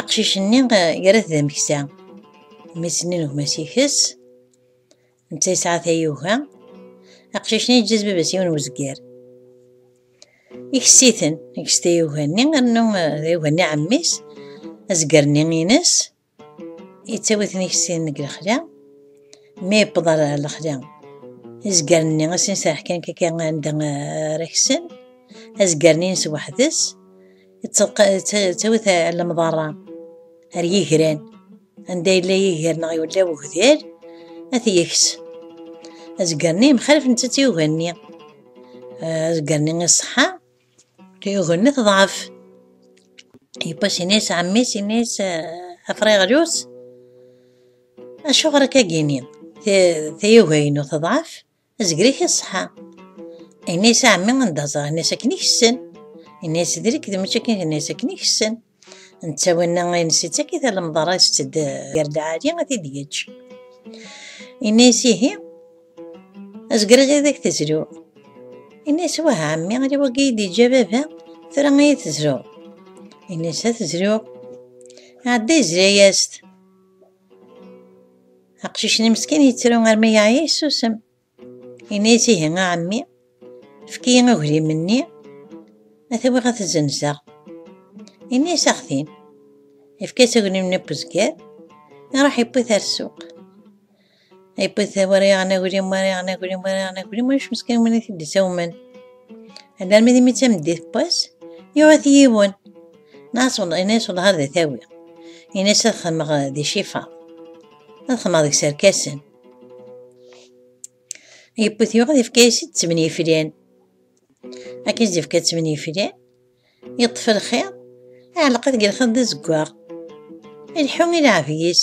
Aqcic-nni yerra-t d ameksa. Mmi-s-nni n gma-s ikess. Netta yesɛa tayuga. Aqcic-nni yeǧǧa-as baba-s yiwen wezger. Ikess-iten, ikess tayuga-nni, rnu tayuga-nni ɛemmi-s, azger-nni ines, yettawi-ten ikess-iten deg lexla. Mi yewweḍ ar lexla, izger-nni asen-iserreḥ kan kaka anda ara ksen. Azger-nni ines weḥd-s. ttawit lemḍarra ar yigran anda yella yiger neɣ yella wegdal ad t-yeks azger-nni mxalef nettat yuga-nni azger-nni iṣeḥḥa yuga-nni teḍɛef yewwas ini-as ɛemmi-s ini-as afriɣlus acuɣer akka gini tayuga-inu teḍɛef Azegri i ṣṣeḥa. Ini-as a ɛemmi anda ẓer, ini-as akken i kessen. Ini-as d lekdeb mačči akken, ini-as akken i kessen. Netta winna ines ittak-it alemḍar-a isett-d gar lɛali ad t-id-yeǧǧ. Ini-as ihi, azegri ad ak-tezlu. Ini-as wah a ɛemmi, ala wagi i d-yeǧǧa baba, tura ad iyi-tezluḍ. Ini-as ad tezluɣ. Ɛedda yezla-yas-t. Aqcic-nni meskin yettru armi yeɛya yessusem. Yenna-yas ihi a ɛemmi, efk-iyi aglim-nni, ad t-awiɣ ad t-zzenzeɣ. Yenna-yas axtin, yefka-yas aglim-nni n uzger, iruḥ yewwi-t ar ssuq. Ipit war yaɣen aglim war yaɣen aglim war yaɣen aglim ulac meskin win i t-id-isawmen. Alarmi d imi d tameddit n wass yuɣ-it yiwen. Nas ini-as wellah ad tawi. Ini-as ad xedmeɣ di cifa. Ad xedmeɣ deg serkasen. Yewwet yuɣ ad yefka-as-id ttmen yiflan. Akken i d-yefka ttmen yiflan, yeṭṭef lxiḍ, iɛelleq-it deg lxiḍ d azeggaɣ. Ileḥḥu i leɛbi-is.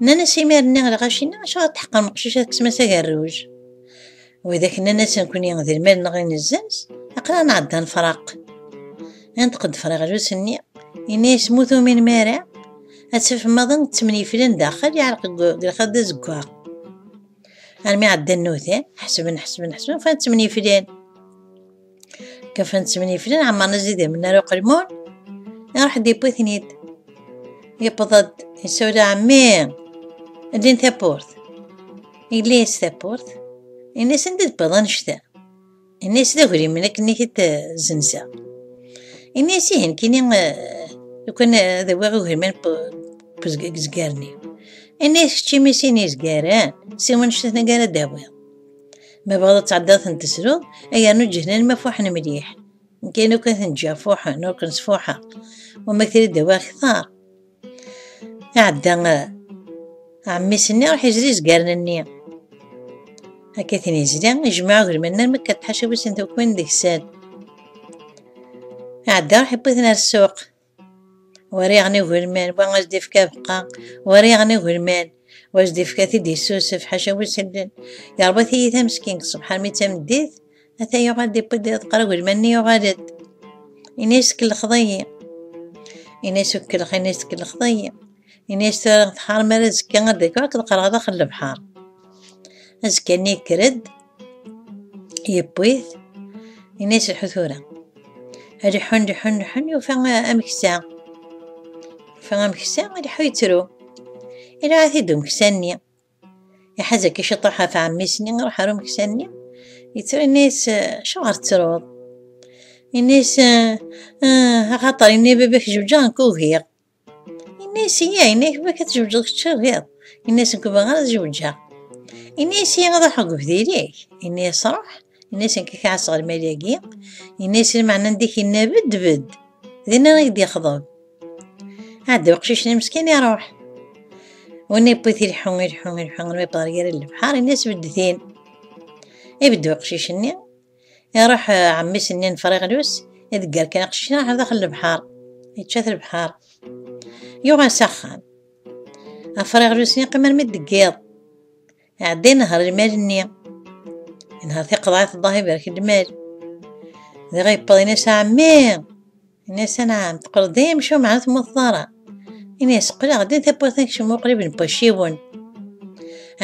Nnan-as imir-nni i lɣaci-nni, acuɣer tḥeqqrem meqcic ad tekkes-as agerruj? Widak nnan-as nekkni d lmal-nneɣ i nezzens, aql-aɣ nɛedda nefraq. Inṭeq-d friɣlus-nni, yenna-as mu tuminem ara, ad tafem maḍi ttemniflen daxel yeɛreq deg lxiḍ d azeggaɣ. Armi ɛeddan nutan, ḥesben, ḥesben, ḥesben, ufan ttemniflen. Kafan-tt mini flan ɛemmaren azidem n ara uqelmun iruḥ d yewwi-ten-id yewweḍ-d yessawel ɛemmi ldin tawwurt yelli yas tawwurt ini-as anda d-wwiḍ annect-a ini-as d agrim akken i t-id-zenseɣ ini-as ihi nekkini lukan ad awiɣ agriman deg zgar-nni ini-as keččimi sin izgaren siwa annect-a ara d-awiḍ ma bɣiḍ ad tɛeddaḍ ten tesruḍ ay yernu ǧehnen ma fuḥen mliḥ kan ur kan ten-ǧǧiɣ fuḥen ur kan sfuḥeɣ wama trid dawa ktar iɛedda ɛemmis-nni ruḥ izri izgaren-nni akka tin izri ijmeɛ agelman armi akka tḥaca wissen tukwin deg sal iɛedda ruḥ iwwi-ten ar ssuq War iɣen ugelman, wa as d-ifk abeqqa, war iɣen ugelman, wa as d-ifka-t-id yessusef, ḥaca wi sellen. Yerba tiyita meskin, ṣṣbeḥ armi d tameddit, ata yuɣal d-iwwi-d adeqqar ugelman-nni yuɣal-d. Ini-as tkellxeḍ-iyi. Ini-as ukellx, ini-as tkellxeḍ-iyi. Ini-as tura tḥar mi ara azekka ad d-rkuɣ akked qqreɣ daxel lebḥer. Azekka-nni yekker-d, yewwi-t, ini-as lḥu tura. Ad iḥun, iḥun, iḥun, yufa ameksa. Yufa ameksa, ad iḥu yettru. Iluɛa-t-id umeksa-nni. Iḥaz akka ciṭuḥ ɣef ɛemmi-s-nni, iruḥ ar umeksa-nni. Yettru ini-as, acuɣer tettruḍ? Ini-as, axaṭer ini baba-k jebǧeɣ nekk ugiɣ. Ini-as iya, ini-ak bak ad tezweǧeḍ kečč tagiḍ. Ini-as nekk bɣiɣ ad zewǧeɣ. Ini-as iya ad ruḥeɣ deg ubdil-ik. Ini-as ruḥ. Ini-as nekk kɛaseɣ lmal-agi. Ini-as lmeɛna anda k-inna bed bed. Dinna i k-d-yexḍeb. Ɛedda uqcic-nni meskin iruḥ. Win yewwi-t ilḥu ilḥu ilḥu, ma yewweḍ ɣer gar lefḥar, ini-as beddet-in. Ibedd uqcic-nni, Iruḥ ɛemmi-s-nni n Friɣlus, idegger kan aqcic-a ɣer daxel lebḥar, yečča-t lebḥar. Yuɣal s axxam. Afriɣlus yeqqim armi d yiḍ. Iɛedda inehher lmal-nni. Inehher tiqeḍɛit ḍah iberk lmal. Diɣ yewweḍ ini-s ɛemmi! Ini-as anɛam, teqqleḍ-d ay amcum ɛni temmuteḍ ara? Ini-as qqleɣ-d i tawwurt akecmu qrib n wacciwen.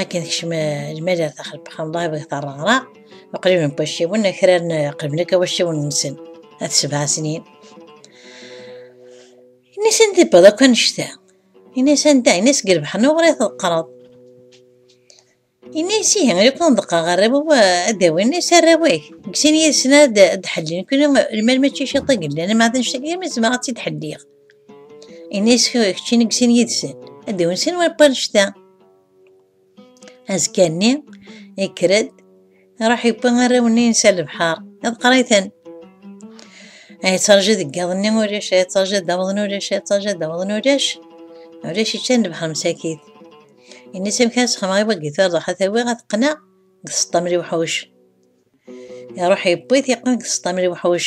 Akken tekcem lmal ar taxleq xanḍaib deg terreɣra uqrib n wacciwen akraren qriben akk wacciwen-nsen at sebɛa snin. Ini-as anda tewweḍ akk annect-a? Ini-as anda? Ini-as deg lbeḥnuɣri teqqreḍ. Ini-as ihi, ay kwan deqqeɣ arraw ad d-awin is arraw-ik. Deg sin yid-sen ad d-ḥellin, kuni lmal mačči ciṭ i yellan, ama d anect-agi yam zemreɣ ad tt-id-ḥelliɣ. Ini-as keččin deg sin yid-sen, ad d-awin sin wal annect-a. Azekka-nni, yekker-d, Iruḥ yewwi arraw-nni yensa lebḥer, ad qriten. Ay ttṛaju deg yiḍ-nni ulac, ay ttṛaju ad awḍen ulac, ay ttṛaju ad awḍen ulac. Ulac iččan lebḥer msakit. Ini-s amek ara sxemeɣ i wagi tureḍ ad tawiɣ ad qqneɣ deg tseṭṭa mri uḥuc. Iruḥ yewwi-t yeqqen deg tseṭṭa mri uḥuc.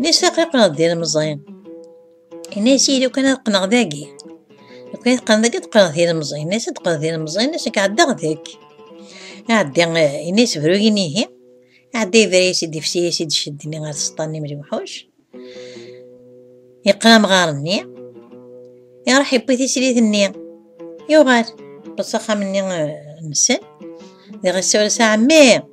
Nisa qiqneɣ d ilemẓi. Inna-yas yili kan ad qqneɣ dagi. Lukan teqqneḍ dagi ad qqneɣ d ilemẓi. Inna-yas ad qqneɣ d ilemẓi, inna-yas akka ɛeddaɣ deg. Ɛeddi, inna-yas bru yinihi. Ɛeddi yebra-yas i d-ifsi-yas i d-ceddi-nni ɣer tseṭṭa n imri uḥuc. Yeqqen amɣar-nni. Iṛuḥ yewwi tislit-nni. Yuɣal. Bas axxam-nni nsen. Diɣ yessawel s ɛemmi.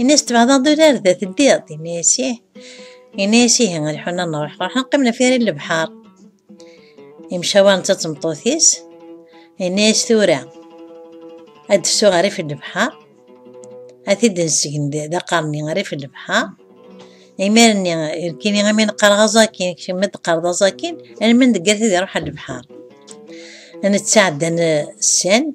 Ini s tbeɛdeḍ urar da teddiḍ, ini-as ih. Ini-as ihi, ad ḥun ad nruḥ, ruḥen qqimen ɣef yiri n lebḥer. Imcawa netta d tmeṭṭut-is, ini-as tura ad d-fsu ɣer rif n lebḥer, ad t-id-nsegn d aqerni ɣer rif n lebḥer. Imir-nni, kini imi neqqareɣ aẓakin, kemm ad d-teqqareḍ aẓakin, almi deg yir tid iruḥ ɣer lebḥer. Nettɛeddan sand,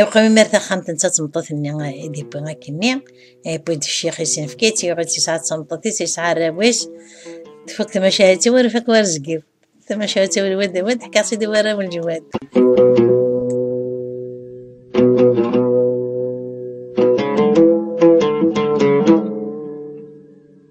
Iwqem imir taxxamt netta d tmeṭṭut-nni i d-iwwi akkenni, iwwi-d ccix isenfek-itt, yuɣ-itt yesɛa d tmeṭṭut-is, yesɛa arraw-is, tfuk tmacahut ur ifak war zgiw, tmacahut ur wad wad ḥkiɣ-tt-id i warraw n lǧwad.